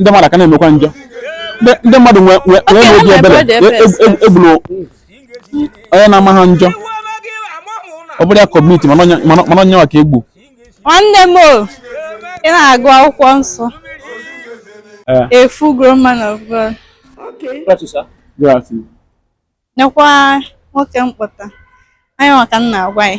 ndị mmadụ ka na-emekwa njọ ndị mmadụ nwee n'obi ebere egburu e, e, e, onye na-ama ha njọ ọ bụrụ ya community mana onye ọma ka egbu nwanne m ị na-agụ akwụkwọ nsọ eh. a full grown man of God nekwa nwoke m kpọta anya maka m na-agwa ya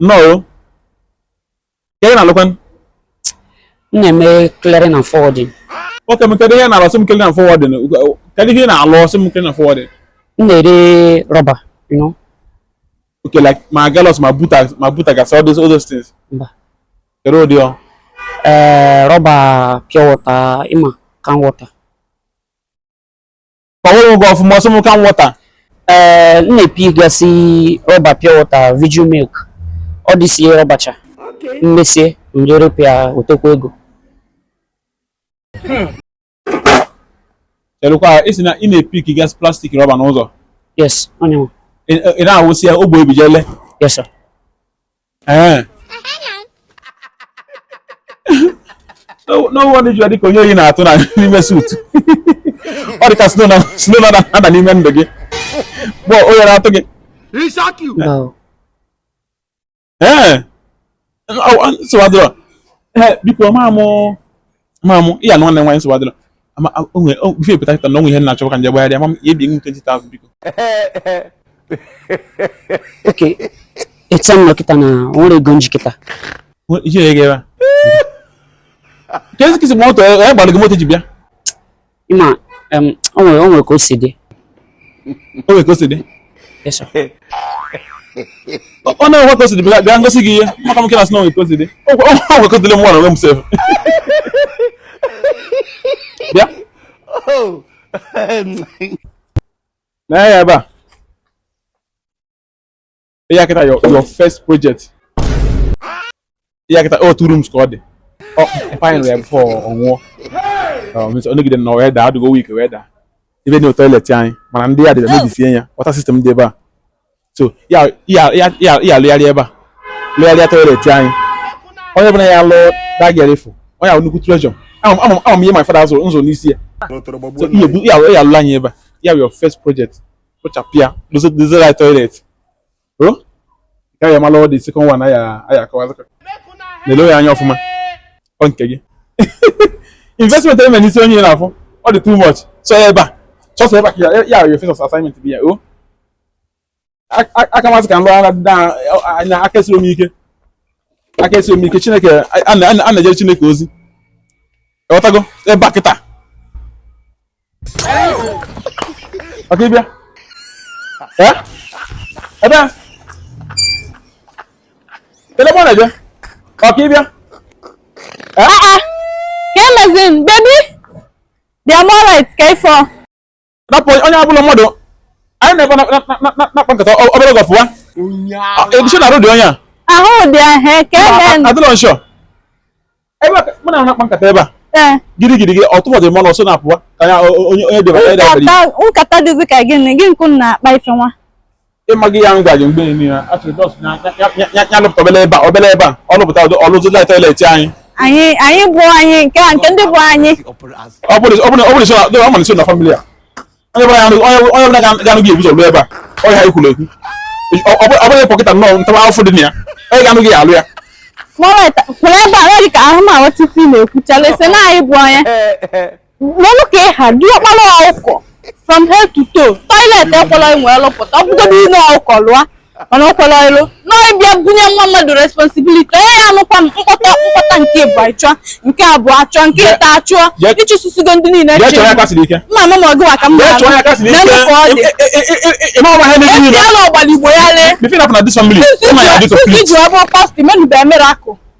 nnọọ kee ị na-alụkwa m na-eme clearing and forwarding nwoke m kedu ihe ị na-alụ sị m clearing and forwarding kedu ihe ị na-alụ sị m clearing and forwarding m na-ere rọba you know okay like ma galos ma buta ma buta gasị all those all those things mba kedu ụdị ọ ee rọba pure water ma can water ọhụrụ gị ọfụma ọsọ m ka m wọta ee m na-epick gasị rọba pure water Viju milk ọ dịsie rọbacha m mesie m je repịa otekwa ego chelụkwa ị sị na ị na-epick gasị plastic rọba n'ụzọ yes onye nwe ị ị na-awụsị ya ogbe ebijele yes sir ee no wonder i ji dịka onye oyi na-atụ na n'ime suit ọ dịka snow na-ada n'ime ndụ gị bụ oyi na-atụ gị ee nsogbu adịrọ biko ma mụ ma mụ ya na nwanne nwaanyị nsogbu adịrọ ama onwe before epụta kịta na onwe ihe m na-achọ ka m je gbagharịa ma ị ya-ebie m 20,000 biko okay etu m nọ kịta na o nwerọ ego m ji kịta Nwe- iji ego ebe a keezi ka i si moto onye gbara gị moto ji bịa ịma em, o nwere o nwere ka o si dị O nwere ka o si dị. Yes, sir. Ọ ọ na-enwe ka o si dị bịa bịa m gosi gị ihe. Maka m ka na-asị na o nwere ka o si dị. O nwe- o nwere ka o si dị m nwa n'onwe m sef. Bịa. Nee ya ebe a. ya kịta your your first project ya kịta ọ two rooms ka ọ dị ọ fine ya before ọ nwụọ ọ nọgide na wee daa adịgo weak wee daa ebe na toilet anyị mana ndị yard bịa mebisie ya water system dị ebe a so ya ya ya ya ya lụgharịa ebe a lụgharịa toilet anyị onye ọbụla ya lụọ dagerefu onye ahụ nnukwu treasure ama m- ama m ihe my father zụrụ nzụ n'isi ya so ihe bu- ya ya lụrụ anyị ebe a ya wụrụ your first project kpochapụ ya dozere anyị toilet o oh, ka ya mara the second one aya aya akọwa na-ele ya anya ọfụma ọ nke gị investment eme n'isi onye na-afụ ọ dị too much so ebe a chọsọ ebe a ka ya ya first assignment bụ ya o oh. aka m asị ka m lụọ na aka esiri m ike aka esiri m ike chineke a na-ejere chineke ozi ewetago ebe a kịta okay bịa ebe a ele mụ na-eje okay bịa ka e mezie bebi dị amorit ka ifo rapụ onye ọbụla mmadụ anyị na-ebe na-akpa nkata obere oge ọ fụwa egusi na arụ dị onye a ahụ dị ahụ ka ebe adịlọ nshọ ebe a ka- mụ na ha na-akpa nkata ebe a ee gịrị gịrị gị ọtụfọ dị mmanụ ọsọ na-apụwa ka ya o- o- onye onye debara ya debara nkata nkata dịzi ka gịnị gị nkụ na-akpa ife nwa ị maghị ya m gwa gị mgbe emi ya achọrọ dọs ya ya- ya- ya- ya lụpụta obele ebe a obele ebe a ọ lụpụta ụdị ọ lụzi lai toilet anyị anyị anyị bụ anyị nke a nke ndị bụ anyị Ọ bụrụ ọ bụrụ ọ bụrụ so na ọ bụrụ so na family a onye ọbụla ga-anụ gị ebu ụzọ lụọ ebe a onye ha ikwuru ekwu ọ bụghị pọkịta nnọọ ntawa afọ dị na ya onye ga-anụ gị alụ ya kwụrụ ebe a nweghị ka ahụ ma nwetiti na-ekwuchala ese na anyị bụ onye n'ọnụ ka ị ha dị ọkpara ọkụkọ from head to toe toilet ekwela enwe lụpụta ọ bụgodị ụlọ ọkụkọ lụọ mana ọ kwere ọrụ na ị bịa bunye nwa mmadụ responsibility onye ya anụkwa mkpọta mkpọta nke mbụ achụọ nke abụọ achụọ nke ịtọ achụọ ị chụsịsịgo ndị niile mma ama ma ọgụwa ka m na-anụ ka ọ dị ya na ọgbaligbo ya lee iji ọ bụ pastọ menube emere akụ